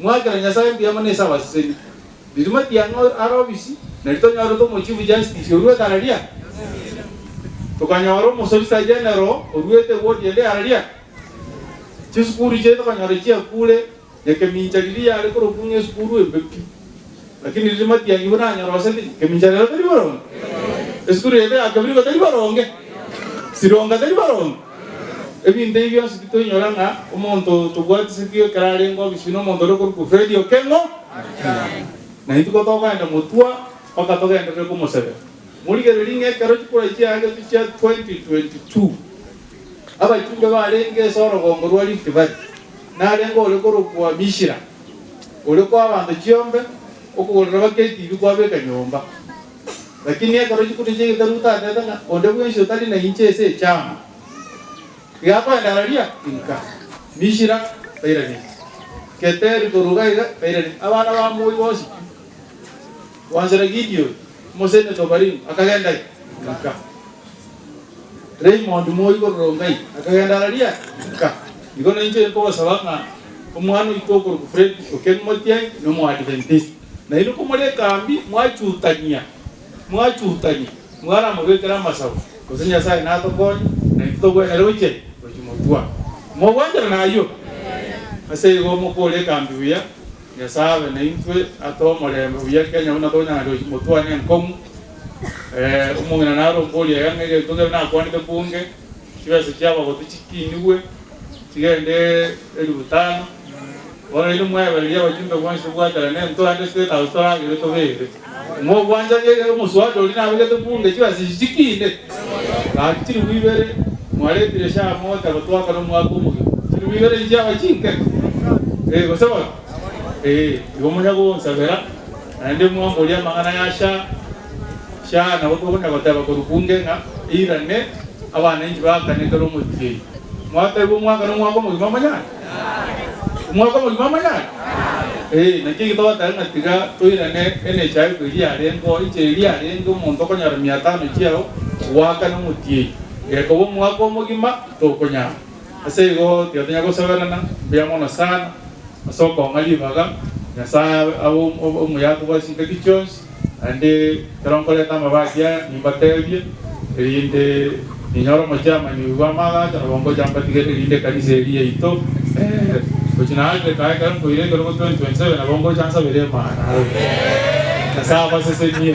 Mwakera Nyasae mbuya mono ase abaseseni. Rituma ki ang'e are obisi, na ritonyorete omochifu Justice orue Galaria? Tokanyora Omosolisagenero oruete ewodi ende Galaria? Chisukuru chiaito okanyora chiakure, na ekemincha riria yare korokwa ng'esukuru embe pi. Lakini riria matiangigwe nanyoroseti, kemincha rero tari boronge, esukuru yaito ya kebrigo tari boronge, sironga tari boronge. Ebinto ebi bionsi titoinyora ng'a omonto tobwatisetio ekero arenge obisibwa nomonto ore okorokwa Fredi Okengo. Na intwe kotogoenda motwa mpaka togenderere komosebera. Morigererie ng'a ekero chikura chiagetwe chia 2022, abachumbe barenge ase orogongo rwa Rift Valley, narenge ore korokwa Mishira. oria kw'abanto chiombe, okogorera baketibi kwabeka nyomba. Lakini ekero chikuta chia egetabu gotagete ng'a onde bwensi otari na inche ase echiama igakoenda araria, inka, Mishira tairanetie, Keteri korwa iga iga tairanetie, abana ba Moi bonsi pi. Gwanchera Gideoni, omosaini o Tobarimu, akagenda Gilga. Raimondi, moibi o Rongai, akagenda Araria Gilga. Igo nainche nkogosaba ng'a omwana oito okorokwa Fredi o Kemimotiai n'Omoadventisti, nainwe komore ekambi mwachutania, mwachutanie, mwaramobekere amasabo, gose Nyasae natokonye, naintwe togwenerete gochia gochia Motwa. Mogwanchera nayio? Ase igo mokore ekambi buya. Nyasae abe naintwe, atoe omorembe buya Kenya buna tonyare gotwana enkong'u. Eeh omong'ina narombe oria yang'a egento kere nakwanete mbunge, chibesa chia abagoti chikinigwe chigende elifu tano. Bono inwe mwebereri abajumbe bonsi gwaterana entwante 6000 toragere tobeere. Mogwanchanie ekero omosubati oria nabegete bunge chibasichi chikiine, gaki chilifu ibere mwaretire sha amota gotoaka nomwaka omogima, chilifu ibere inche yaba chinkeke? Ee, gose bono? Ee, igo monya gonsabera, naende mwamborie amang'ana ya sha sha nabo togonya goteba korwa bunge ng'a eirane abananchi baakane kera omotienyi. Mwatebwa omwaka nomwaka omogima monyare? Omwaka omogima amanyare? Ee, nakio egetogoteba ng'a tiga toirane emechaiko eria yarengeo, inche eria yarenge omonto okonyora mia tano chiao goaka nomotieyi, gekoba omwaka omogima tokonyara. Ase igo tiga tonya gosoberana mbuya mono sana ase okong'a ribaga Nyasae abe omoyato bwa chingaki chionsi. Naende ekero nkoreta amabaasi aya, nimbateebie, erinde ninyore omochiamanyi bw'amaagacho nabo ngocha mbatige, erinde ekanisa eri yaito eere gochia nache kae ekero nkoira ekerogo 2027 nabo ngocha nsabere Emana aro Nyasae abasesenie.